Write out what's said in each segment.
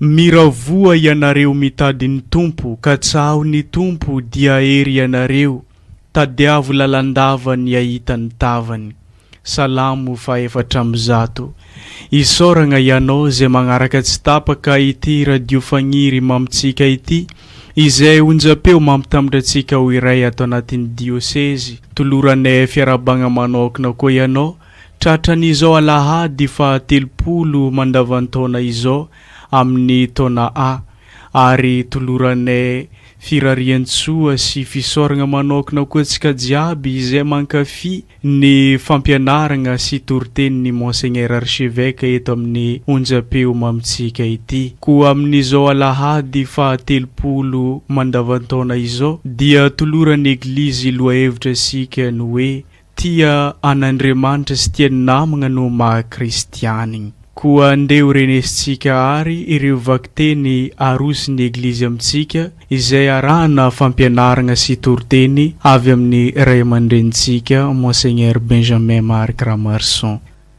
Miravoa ianareo mitady ny Tompo ka tsaho ny Tompo dia hery ianareo, tadiavo lalandava ny ahita ny tavany. Salamo fahefatra amby zato. Isaoragna ianao izay magnaraka tsy tapaka ity radio fagniry mamitsika ity, izay onjam-peo mampitambatra antsika ho iray ato anatin'ny diosezy. Toloranay fiarahabagna manaokna koa ianao Tratran'izao alahady faha telopolo mandavan-taona izao amin'ny taona A ary toloranay firarian-tsoa sy fisaoragna manaokna koa antsika jiaby izay mankafy ny fampianaragna sy toritenin'ny Monseigneur Archevêque eto amin'ny onjam-peo mamintsika ity. Koa amin'izao alahady faha telopolo mandavan-taona izao dia toloran'ny Eglizy lohahevitra isika ny hoe Tia an'Andriamanitra sy tia ny namagna no maha kristianigny. Koa ndeha ho renesintsika àry ireo vakiteny arosin'ny Eglizy amintsika izay arahana fampianaragna sy toriteny avy amin'ny Ray aman-drenintsika Monseigneur Benjamin Marc Ramarson.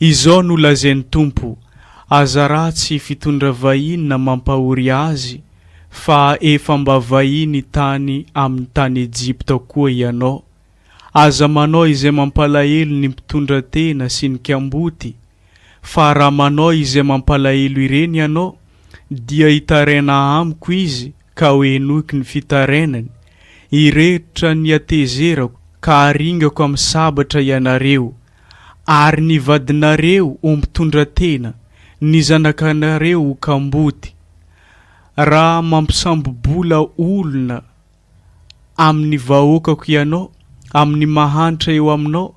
Izao no lazain'ny Tompo, Aza ratsy fitondra vahiny na mampahory azy, fa efa mba vahiny tany amin'ny tany Ejipta koa ianao. Aza manao izay mampalahelo ny mpitondra tena sy ny kamboty, fa raha manao izay mampalahelo ireny ianao, dia hitaraina amiko izy ka ho henoiko ny fitarainany, hirehotra ny hatezerako ka haringako amin'ny sabatra ianareo, ary ny vadinareo ho mpitondra tena, ny zanakanareo ho kamboty, raha mampisambo-bola olona amin'ny vahoakako ianao, amin'ny mahantra eo aminao,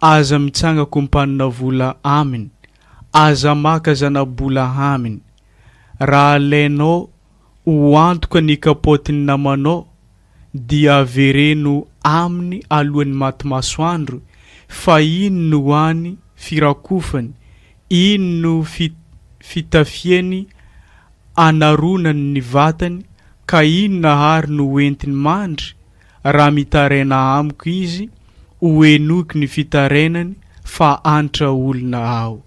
aza mitsanga kompanina vola aminy, aza maka zana-bola aminy, raha alainao ho antoka ny kapaotin'ny namanao dia avereno aminy alohan'ny maty masoandro fa iny no any firakofany, iny no fitafiany anaronany ny vatany ka inona ary no ho entiny mandry raha mitaraina amiko izy ho henoiko ny fitarainany fa antra olona aho.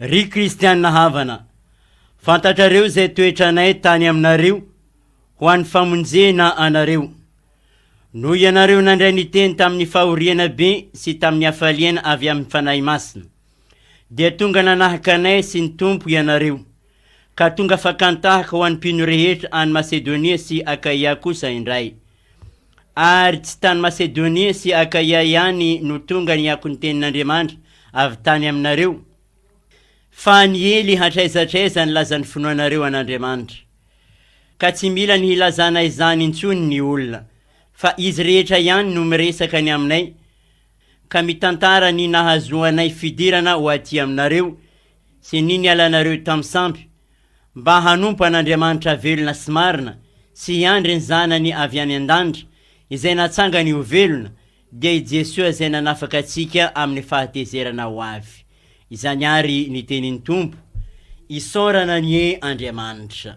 Ry kristiana havana, fantatrareo izay toetranay tany aminareo ho an'ny famonjena anareo. Noho ianareo nandray ny teny tamin'ny fahoriana be sy tamin'ny hafaliana avy amin'ny Fanahy Masina, dia tonga nanahaka anay sy ny Tompo ianareo, ka tonga fakan-tahaka ho an'ny mpino rehetra any Masedonia sy Akaia kosa indray. Ary tsy tany Masedonia sy Akaia ihany no tonga ny akon'ny tenin'Andriamanitra avy tany aminareo, fa niely hatraiza hatraiza ny lazan'ny finoanareo an'Andriamanitra. Ka tsy mila ny hilazana izany intsony ny olona, fa izy rehetra ihany no miresaka ny aminay, ka mitantara ny nahazoanay fidirana ho aty aminareo, sy ny nialanareo tamin'ny sampy, mba hanompo an'Andriamanitra velona sy marina sy hiandry ny Zanany avy any an-danitra izay natsangany ho velona, dia i Jesoa izay nanafaka antsika amin'ny fahatezerana ho avy. Izany àry ny tenin'ny Tompo, Isaorana anie Andriamanitra!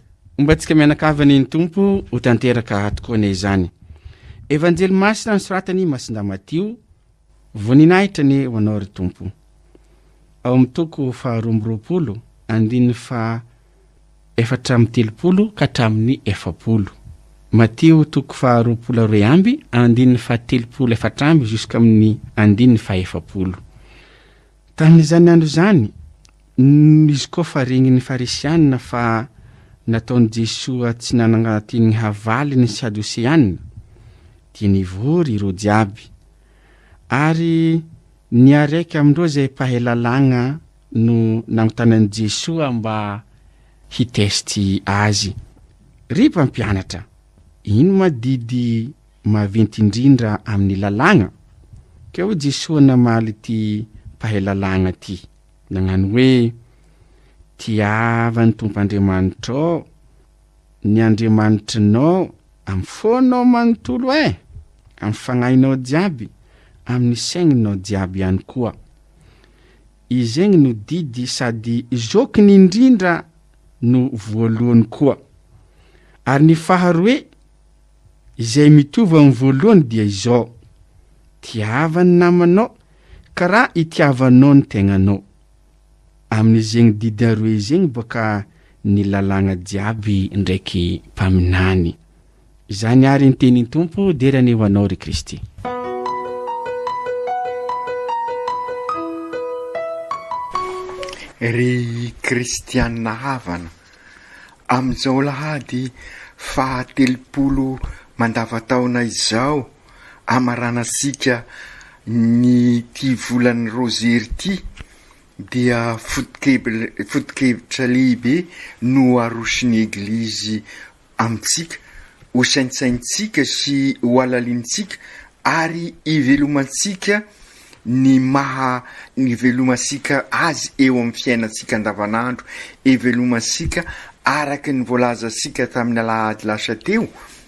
Homba antsika mianakavy anie ny Tompo ho tanteraka ato koa anie izany. Evanjely masina nosoratan'i Masindà Matio, Voninahitra anie ho Anao ry Tompo. Ao amin'ny toko faharoa amby roapolo, andininy faha efatra amby telopolo ka hatramin'ny efapolo. Matio toko faha roapolo roe amby, andininy faha telopolo efatra amby juskamin'ny andininy faha efapolo. Tamin'izany andro izany, Izy koa fa regniny farisianina fa nataon'i Jesoa tsy nanangatin'ny havaly ny Sadoseanina dia nivory ireo jiaby ary niareka amindreo zay mpahay lalàgna no nagnotanan'i Jesoa mba hi test azy. Ry mpampianatra, ino ma didy maventy indrindra amin'ny lalàgna? Ka hoy Jesoa namaly ty mpahay lalàgna ty. Nagnano hoe, Tiava ny Tompo Andriamanitrao, ny Andriamanitrinao, amin'ny fonao manontolo eh! amin'ny fagnahinao jiaby, amin'ny saigninao jiaby ihany koa. Izegny no didy sady zokiny indrindra no voalohany koa. Ary ny faharoe, izay mitovy amin'ny voalohany dia izao, Tiava ny namanao Ka ra itiavanao ny tegnanao amin'izegny didy aroe izegny boka ny lalàgna jiaby ndraiky mpaminany. Izany ary ny tenin Tompo derany ho anao ry Kristy. Ry Kristiana havana, amin'izao alahady fahatelopolo mandavantaona izao, hamaranantsika ny ity volan'ny Rozery ity dia foto-kevitra lehibe no aroson'ny Eglizy amintsika, hosaintsainintsika sy hohalalinintsika ary hivelomantsika ny maha hivelomantsika azy eo amin'ny fiainantsika andavanandro, hivelomantsika araka ny voalazantsika tamin'ny alahady lasa teo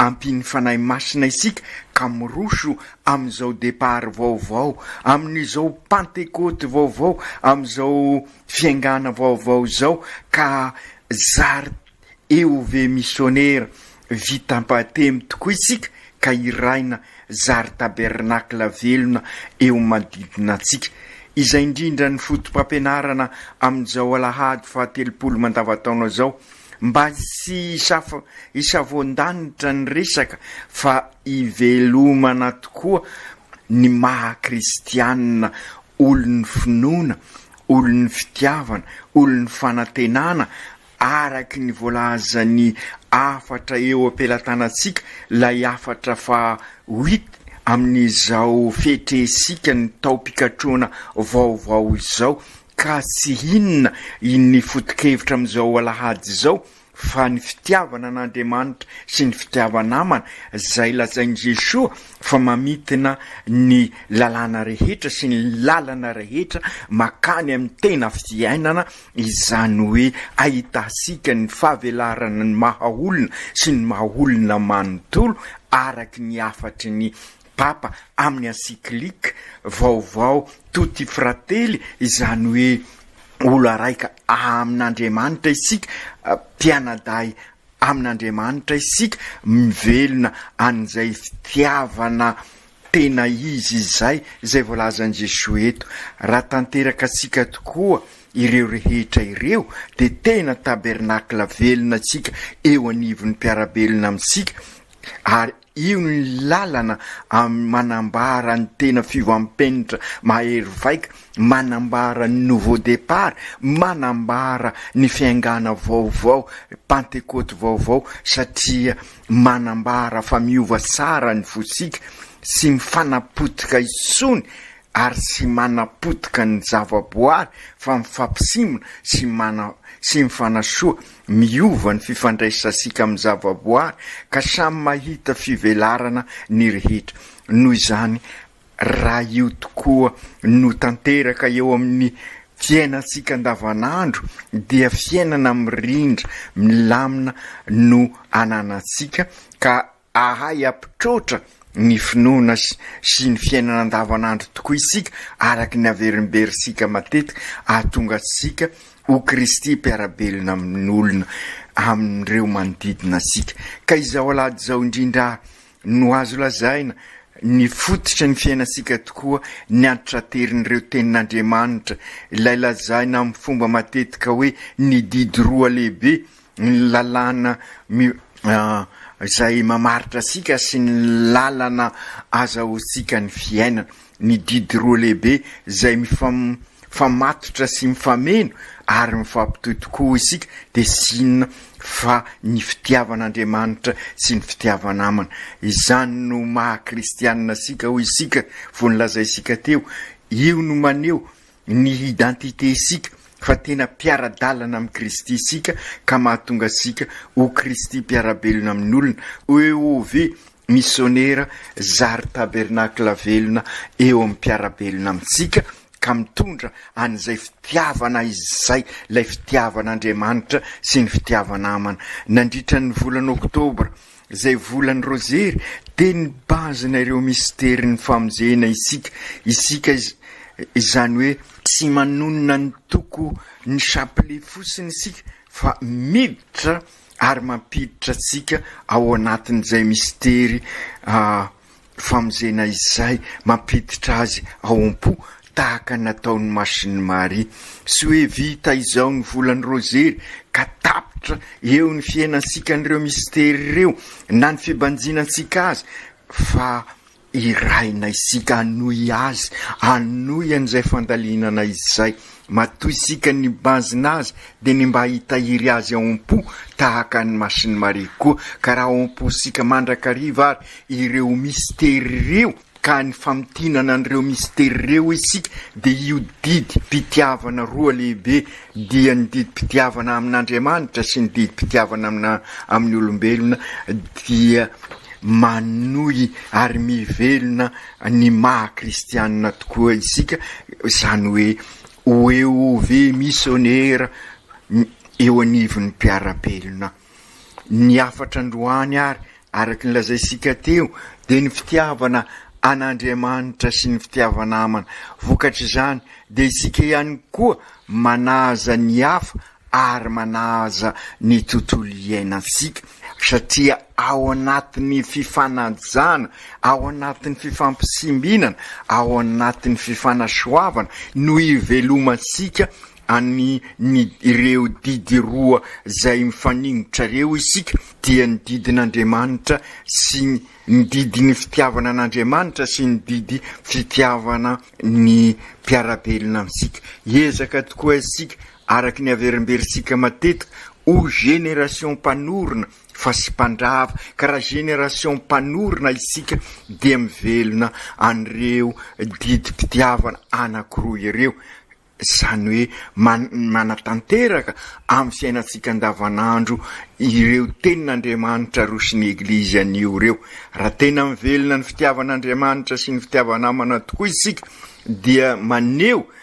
Ampian'ny Fanahy Masina isika ka miroso amin'izao départ vaovao, amin'izao Pantekoty vaovao, amin'izao fiaingàna vaovao izao ka zary eo ve misionera vitam-patemy tokoa isika ka hiraina zary tabernakla velona eo manodidina antsika. Izay indrindra ny fotopampianarana amin'izao alahady fahatelopolo mandavantaona izao. Mba tsy hisavoan-danitra ny resaka fa hivelomana tokoa ny maha kristianina olon'ny finoana, olon'ny fitiavana, olon'ny fanantenana araky ny voalazan'ny hafatra eo am-pelatanantsika, ilay hafatra faha huit amin'izao fetrehintsika ny taom-pikatrohana vaovao izao. Ka tsy inona ny foto-kevitra amin'izao alahady izao fa ny fitiavana an'Andriamanitra sy ny fitiava-namana, izay lazain'i Jesoa fa mamintina ny lalàna rehetra sy ny lalana rehetra makany amin'ny tena fiainana, izany hoe ahitantsika ny fahavelarana ny maha-olona sy ny maha-olona manontolo araka ny hafatry ny Papa amin'ny encyclique vaovao Tutti Fratelli, izany hoe Olo Raika amin'Andriamanitra isika, mpianadahy amin'Andriamanitra isika, mivelona an'izay fitiavana tena izy izay, izay voalazan'i Jesoa eto. Raha tanteraka antsika tokoa ireo rehetra ireo dia tena tabernacle velona isika eo anivon'ny mpiara-belona amintsika ary Io no lalana manambara ny tena fiovampenitra mahery vaika, manambara ny nouveau départ, manambara ny fiaingàna vaovao, pantekôty vaovao, satria manambara fa miova tsara ny fosika, tsy mifanapotika intsony ary tsy manapotika ny zavaboary fa mifampisimina sy mana sy mifanasoa, miova ny fifandraisansika amin'ny zavaboary ka samy mahita fivelarana ny rehetra. Noho izany, raha io tokoa no tanteraka eo amin'ny fiainantsika andavanandro dia fiainana mirindra milamina no ananantsika ka Ahay hampitroatra ny finoana sy ny fiainana andavanandro tokoa isika araka ny haverimberintsika matetika hahatonga antsika ho Kristy mpiara-belona amin'olona amin'ireo manodidina antsika. Ka izao alahady izao indrindra no azo lazaina ny fototry ny fiainantsika tokoa ny antitranterin'ireo tenin'Andriamanitra, ilay lazaina amin'ny fomba matetika hoe ny didy roa lehibe ny lalàna izay mamaritra antsika sy ny lalana azahoantsika ny fiainana, ny didy roa lehibe izay mifamatotra sy mifameno ary mifampitohy tokoa hoy isika dia tsy inona fa ny fitiavan'Andriamanitra sy ny fitiava-namana. Izany no maha kristianina antsika hoy isika, vao nolazaintsika teo, io no maneho ny identité isika fa tena mpiara-dalana amin'i Kristy isika ka mahatonga antsika ho Kristy mpiara-belona amin'olona, OEOV, misionera zary tabernakla velona eo amin'ny mpiara-belona amintsika ka mitondra an'izay fitiavana izay, ilay fitiavan'Andriamanitra sy ny fitiava-namana. Nandritra ny volana oktobra. Izay volan'ny rozery dia ny base-na ireo misterin'ny famonjena isika, isika izany hoe tsy manonona ny toko ny chapelet fosiny isika fa miditra ary mampiditra antsika ao anatin'izay mistery fa amin'izay na izay mampiditra azy ao am-po tahaka ny nataon'i Masini Maria. Tsy hoe vita izao ny volan'ny Rozery ka tapitra eo ny fiainantsika an'ireo mistery ireo na ny fibanjinantsika azy fa irahina isika hanohy azy, hanohy an'izay fandalinana izay Matoa isika nibanjina azy dia ny mba hitahiry azy ao am-po tahaka an'i Masini Maria koa, ka raha ao am-pontsika mandrakariva ary ireo mistery ireo ka ny famintinana an'ireo mistery ireo isika dia io didim-pitiavana roa lehibe dia ny didim-pitiavana amin'Andriamanitra sy ny didim-pitiavana amin'ny olombelona dia manohy ary mivelona ny maha kristianina tokoa isika, izany hoe ho eo ve misionera eo anivon'ny mpiara-belona. Ny hafatra androany ary, araka ny lazaintsika teo, dia ny fitiavana an'Andriamanitra sy ny fitiava-namana. Vokatr'izany dia isika ihany koa manaja ny hafa ary manaja ny tontolo iainantsika satria ao anatin'ny fifanajana, ao anatin'ny fifampisimbinana, ao anatin'ny fifanasoavana no ivelomantsika any ny ireo didy roa izay mifaningotra ireo isika dia ny didin'Andriamanitra sy ny didin'ny fitiavana an'Andriamanitra sy ny didy fitiavana ny mpiara-belona amintsika. Hiezaka tokoa isika Araka ny averimberintsika matetika ho génération mpanorina fa sy mpandrava ka raha génération mpanorina isika dia mivelona an'ireo didim-pitiavana anankiroa ireo, izany hoe manatanteraka amin'ny fiainantsika andavanandro ireo tenin'Andriamanitra aroson'ny Eglizy anio ireo. Raha tena mivelona ny fitiavan'Andriamanitra sy ny fitiava-namana tokoa isika dia maneho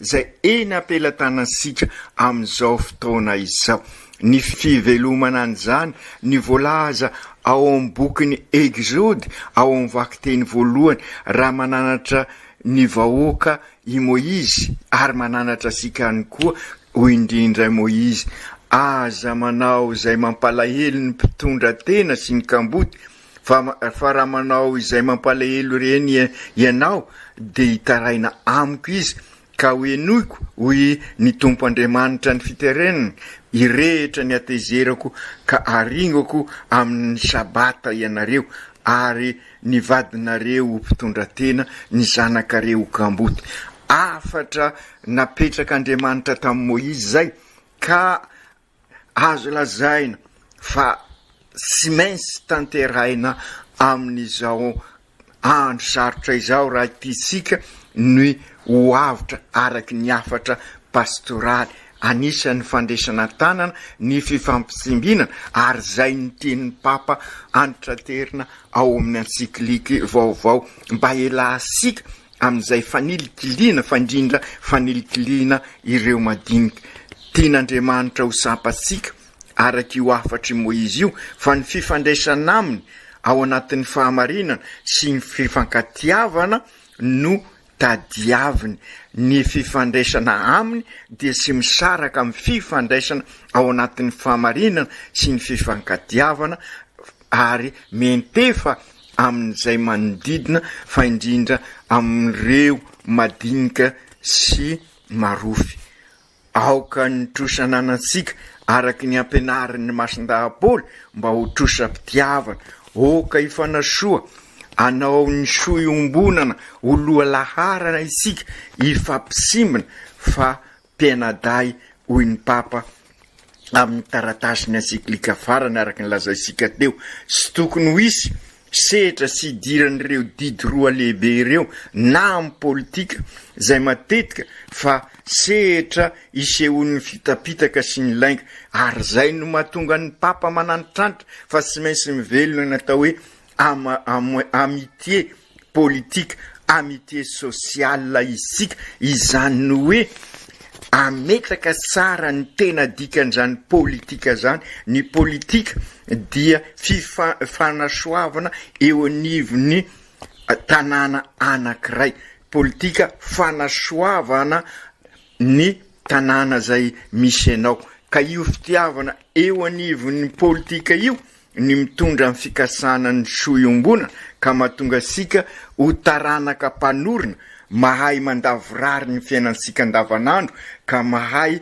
izay eny am-pelatanantsika amin'izao fotoana izao. Ny fivelomana an'izany no voalaza ao amin'ny bokin'ny Eksody, ao amin'ny vakiteny voalohany, Raha mananatra ny vahoaka i Moizy, ary mananatra antsika ihany koa, hoy indrindra i Moizy, Aza manao izay mampalahelo ny mpitondra tena sy ny kamboty, Fa fa raha manao izay mampalahelo ireny ianao, dia hitaraina amiko izy, ka hohenoiko, hoy ny Tompo Andriamanitra ny fiterenana, hirehitra ny hatezerako ka haringako amin' ny Sabata ianareo, ary ny vadinareo ho mpitondra tena, ny zanakareo ho kamboty. Hafatra napetrak' Andriamanitra tamin'i Moizy izay, ka Azo lazaina fa tsy maintsy tanterahina amin'izao andro sarotra izao raha tiantsika ny ho avotra araka ny hafatra pastoraly. Anisan'ny fandresana tanana ny fifampitsimbinana ary izay ny tenin'ny Papa antitraterina ao amin'ny antsikliky vaovao mba hialansika amin'izay fanilikiliana fa indrindra fanilikiliana ireo madinika. Tian'Andriamanitra ho sampantsika araka io hafatr'i Moizy io fa ny fifandraisana aminy ao anatin'ny fahamarinana sy ny fifankatiavana no tadiaviny. Ny fifandraisana aminy dia tsy misaraka amin'ny fifandraisana ao anatin'ny fahamarinana sy ny fifankatiavana ary miantefa amin'izay manodidina fa indrindra amin'ireo madinika sy marofy. Aoka ny trosa ananantsika araka ny ampianarin'ny Masindahy Paoly mba ho trosa-pitiavana. Oka hifanasoa, anao ny soa iombonana ho loha laharana isika hifampisimbina fa Tena dahy, hoy ny Papa amin'ny taratasiny encyclique farany, araka ny lazaintsika teo, tsy tokony ho hisy sehatra tsy hidiran'ireo didy roa lehibe ireo na amin'ny politika, izay matetika fa sehatra isehoan'ny fitapitaka sy ny lainga, ary izay no mahatonga ny Papa mananitranitra fa tsy maintsy mivelona ny atao hoe amitié politique amitié sociale isika, izany ny hoe ametraka tsara ny tena dikan'izany politika zany, ny politika dia fifanasoavana eo anivon'ny tanàna anankiray, politika fanasoavana ny tanàna zay misy anao, ka io fitiavana eo anivon'ny politika io, ny mitondra ny fikasana ny soa iombonana ka mahatonga antsika ho taranaka mpanorina mahay mandavorary ny fiainantsika andavanandro ka mahay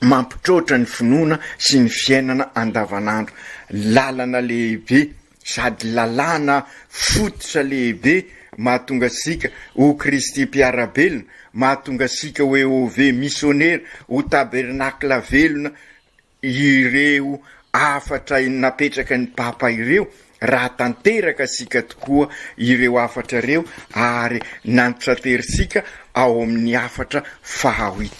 mampitroatra ny finoana sy ny fiainana andavanandro. Lalana lehibe sady lalàna fototra lehibe mahatonga antsika ho Kristy mpiara-belona, mahatonga antsika ho EOV misionera, ho tabernacle velona, ireo hafatra napetraka ny Papa ireo raha tanteraka tsika tokoa ireo hafatra ireo ary nantrateritsika ao amin'ny hafatra fahaoit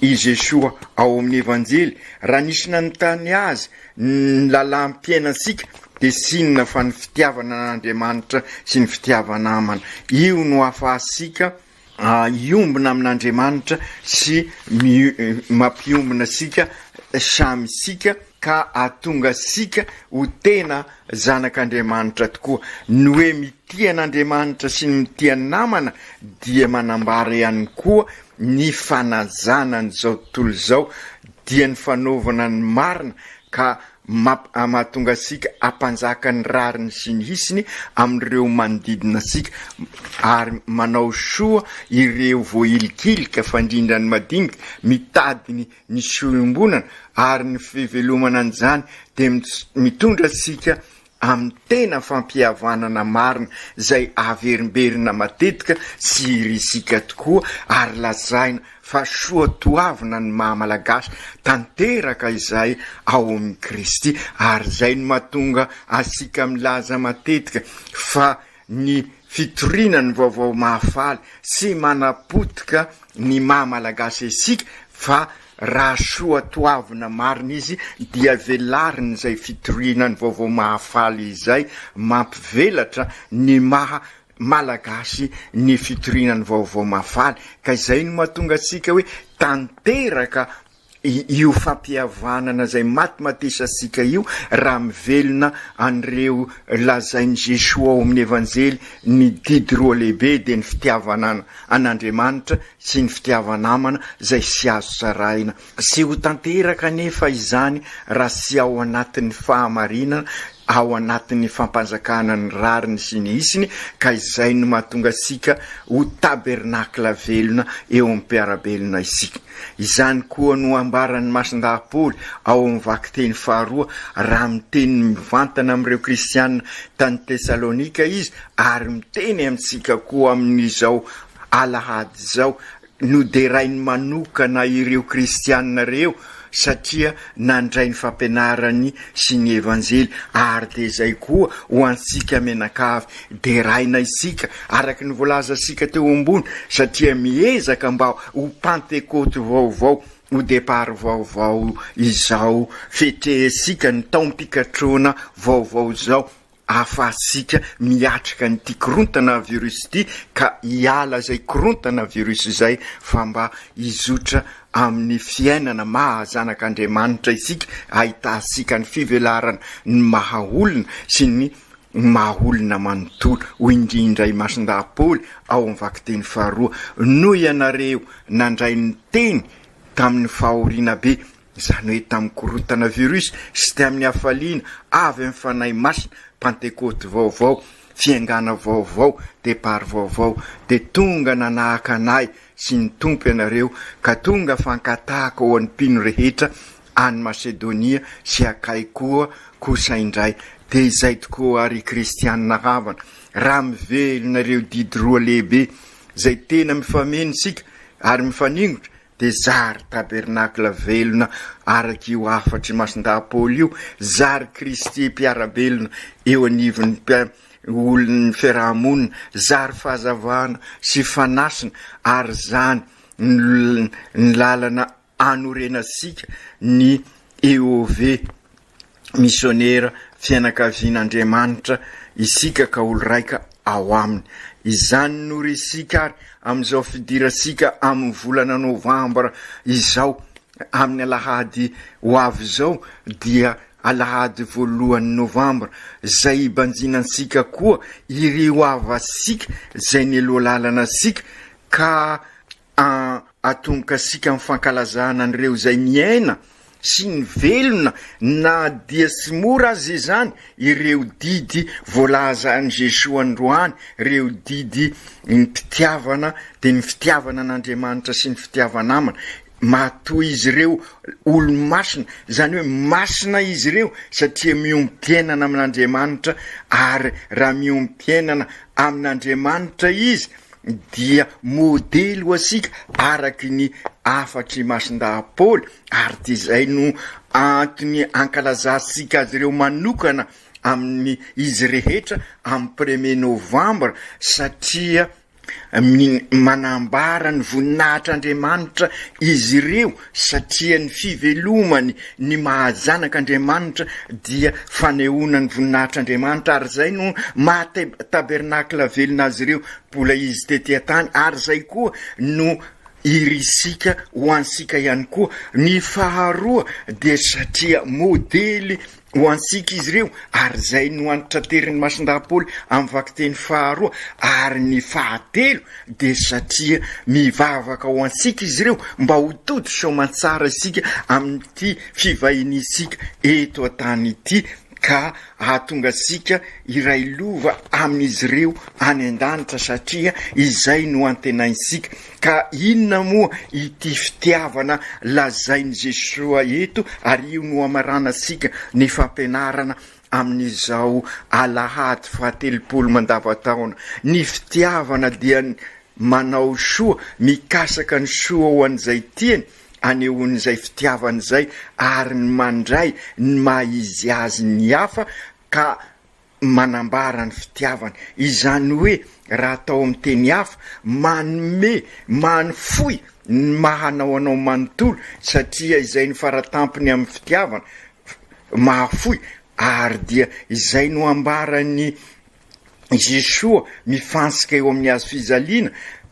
i Jesoa ao amin'ny Evanjely raha nisy nanontany Azy ny lalam-piainantsika dia tsinona fa ny fitiavana an'Andriamanitra sy ny fitiava-namana io no ahafahantsika hiombona amin'Andriamanitra sy mampiombona antsika samy isika ka hahatonga antsika ho tena zanak'Andriamanitra tokoa. Ny hoe mitia an'Andriamanitra sy ny mitia ny namana dia manambara ihany koa ny fanajana an'izao tontolo izao dia ny fanaovana ny marina ka Map a Mahatonga antsika hampanjaka ny rariny sy ny hitsiny amin'ireo manodidina antsika ary manao soa ireo voahilikilika, fandrindra ny madinika, mitady ny soa iombonana ary ny fivelomana an'izany dia mitondra antsika amin'ny tena fampihavanana marina izay averimberina matetika sy risika tokoa ary lazaina fa soa toavina ny maha Malagasy tanteraka izay ao amin'i Kristy ary izay no mahatonga asika milaza matetika fa ny fitoriana ny vaovao mahafaly sy manapotika ny maha Malagasy isika fa raha soa toavina marina izy dia velariny izay fitoriana ny vaovao mahafaly izay, mampivelatra ny maha Malagasy ny fitoriana ny vaovao mahafaly ka izay no mahatonga antsika hoe tanteraka io fampihavanana izay matimatesantsika io raha mivelona an'ireo lazain'i Jesoa ao amin'ny Evanjely, ny didy roa lehibe dia ny fitiavana an'Andriamanitra sy ny fitiava namana izay tsy azo sarahina. Tsy ho tanteraka anefa izany raha tsy ao anatin'ny fahamarinana, ao anatin'ny fampanjakana ny rariny sy ny hitsiny ka izay no mahatonga antsika ho tabernacle velona eo amin'ny mpiara-belona isika. Izany koa no ambaran'ny masindahy Paoly ao amin'ny vakiteny faharoa, raha miteny mivantana amin'ireo kristiana tany Tesalonika izy, ary miteny amintsika koa amin'izao alahady izao, Noderainy manokana ireo kristiana ireo satria nandray ny fampianarany sy ny Evanjely, ary dia izay koa ho antsika mianakavy Deraina isika, araka ny voalazantsika teo ambony, satria miezaka mba ho Pantekôty vaovao, ho départ vaovao izao, fetrehintsika ny taom-pikatroana vaovao izao, ahafahantsika miatrika an'ity korontana virus ity, ka hiala izay korontana virus izay, fa mba hizotra amin'ny fiainana maha zanak'Andriamanitra isika, ahitantsika ny fivelarana ny maha olona sy ny. ny maha olona manontolo, hoy indrindra i Masindahy Paoly ao amin'ny vakiteny faharoa, noho ianareo nandray ny teny tamin'ny fahoriana be, izany hoe tamin'ny korontana virus sy tamin'ny hafaliana avy amin'ny Fanahy Masina, Pantekoty vaovao, fiaingàna vaovao, départ vaovao, dia tonga nanahaka an'ahy sy ny Tompo ianareo, ka tonga fankatahako ao an'ny mpino rehetra any Masedonia sy Akay koa kosa indray. Dia izay tokoa, ry kristianina havana, raha mivelona ireo didy roa lehibe izay tena mifameno isika ary mifaningotra, dia zary tabernakla velona araka io hafatr' i Masindahy Paoly io, zary Kristy mpiara-belona eo anivon' ny olon' ny fiaraha-monina, zary fahazavana sy fanasina, ary izany no lalana anorenantsika ny EOV, Misionera Fianakavian'Andriamanitra, isika ka olo-raika ao aminy. Izany no resika ary amin'izao fidirantsika amin'ny volana novambra izao, amin'ny alahady ho avy izao dia alahady voalohan'ny novambra, izay hibanjina antsika koa ireo havantsika izay nialoha lalana antsika ka An, atomokasika amin'ny fankalazana an'ireo izay miaina sy ny velona na dia tsy mora aza izany ireo didy voalaza an'i Jesoa androany, ireo didy mpitiavana dia ny fitiavana an'Andriamanitra sy ny fitiava-namana. Matoa izy ireo olo-masina, izany hoe masina izy ireo satria miombom-piainana amin'Andriamanitra ary raha miombom-piainana amin'Andriamanitra izy, dia modely ho antsika araky ny hafatr'i Masindahapôly, ary tsy izay no antony ankalazantsika azy ireo manokana amin'ny izy rehetra amin'ny premier novambra satria manambara ny voninahitr'Andriamanitra izy ireo Satria ny fivelomany ny maha-zanak' Andriamanitra dia fanehoana ny voninahitr' Andriamanitra, ary izay no maha-tabernakla velona azy ireo mbola izy tety an-tany, ary izay koa no irisika ho antsika ihany koa. Ny faharoa dia satria modely Ho antsika izy ireo, ary izay no antitranterin'ny Masindahy-Paoly amin'ny vakiteny faharoa ary ny fahatelo dia satria mivavaka ho antsika izy ireo mba ho tody soamantsara isika amin'ity fivahiniantsika eto an-tany ity ka hahatonga antsika hiray lova amin'izy ireo any an-danitra satria izay no antenaintsika Ka inona moa ity fitiavana lazain'i Jesoa eto ary io no hamaranantsika ny fampianarana amin'izao alahady fahatelopolo mandavataona? Ny fitiavana dia ny manao soa, mikasaka ny soa ho an'izay tiany, anehoan'izay fitiavany izay ary ny mandray ny maha izy azy ny hafa ka manambara ny fitiavany. Izany hoe, raha atao amin'ny teny hafa, manome, manofoy ny maha anao anao manontolo, satria izay no faratampony amin'ny fitiavana, mahafoy, ary dia izay no ambaran'i Jesoa mifantsika eo amin'ny hazo fijaliana,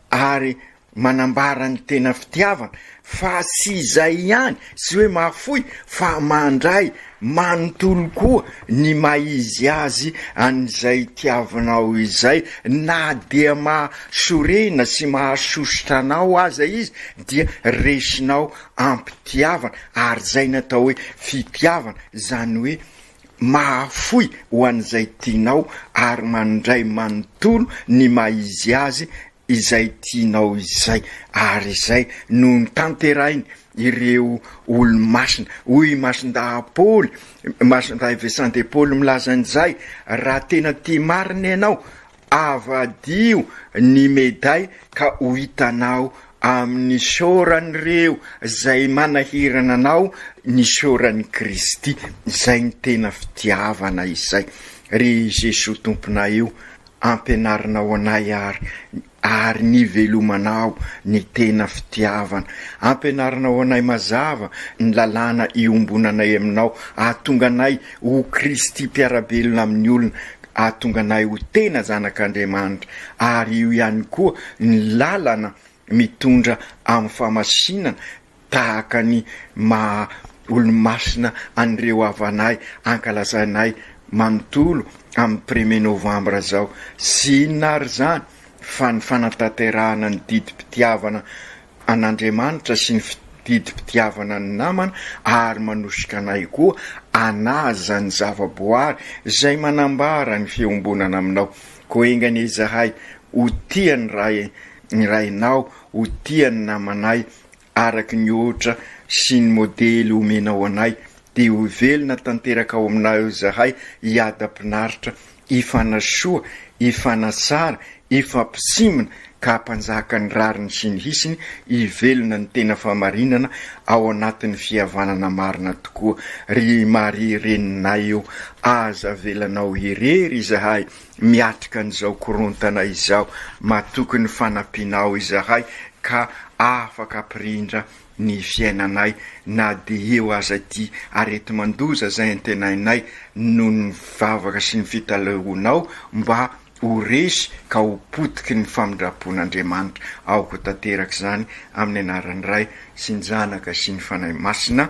ary Manambara ny tena fitiavana fa tsy izay ihany, tsy hoe mahafoy, fa mandray manontolo koa ny maha izy azy an'izay tiavinao izay. Na dia mahasorena sy mahasosotra anao aza izy dia resinao am-pitiavana, ary izay no atao hoe fitiavana, izany hoe mahafoy ho an'izay tianao ary mandray manontolo ny maha izy azy izay tianao izay, ary izay no notanterahin' ireo olo-masina. Hoy i Masindahy Paoly, Masindahy Vincent de Paul milaza an'izay, Raha tena tia marina ianao, avadiho ny meday ka ho hitanao amin'ny saoran'ireo izay manahirana anao ny saoran'i Kristy. Izay no tena fitiavana izay, ry Jesoa Tomponay o! Ampianarinao anay ary ary nivelomanao ny tena fitiavana. Ampianarinao anay mazava ny lalàna iombonanay aminao. Ahatonga anay ho Kristy mpiara-belona amin'ny olona. Ahatonga anay ho tena zanak'Andriamanitra. Ary io ihany koa ny lalana mitondra amin'ny famasinana tahaka ny maha olomasina an'ireo havanahy ankalazainay manontolo amin'ny premier novambra izao. Tsy inona ary izany fa ny fanatanterahana ny didim-pitiavana an'Andriamanitra sy ny didim-pitiavana ny namana ary manosika anay koa hanaja ny zava-boary izay manambara ny fiombonana aminao. Koa enga anie izahay ho tia ny Ray ny Rainao, ho tia ny namanay, araka ny ohatra sy ny modely omenao anay, dia ho velona tanteraka ao aminao izahay hiadam-pinaritra, hifanasoa, hifanatsara, hifampisimina, ka hampanjaka ny rariny sy ny hisiny, hivelona ny tena fahamarinana ao anatin'ny fihavanana marina tokoa. Ry Maria Reninay ô, aza avelanao irery izahay. miatrika an'izao korontana izao. Matoky ny fanampianao izahay ka afaka ampirindra ny fiainanay na dia eo aza ity areti-mandoza izay antenainay noho ny vavaka sy ny fitaleonao mba ho resy ka ho potiky ny famindram-pon'Andriamanitra. Aoka ho tanteraka izany amin'ny anaran'ny Ray sy ny Zanaka sy ny Fanahy Masina.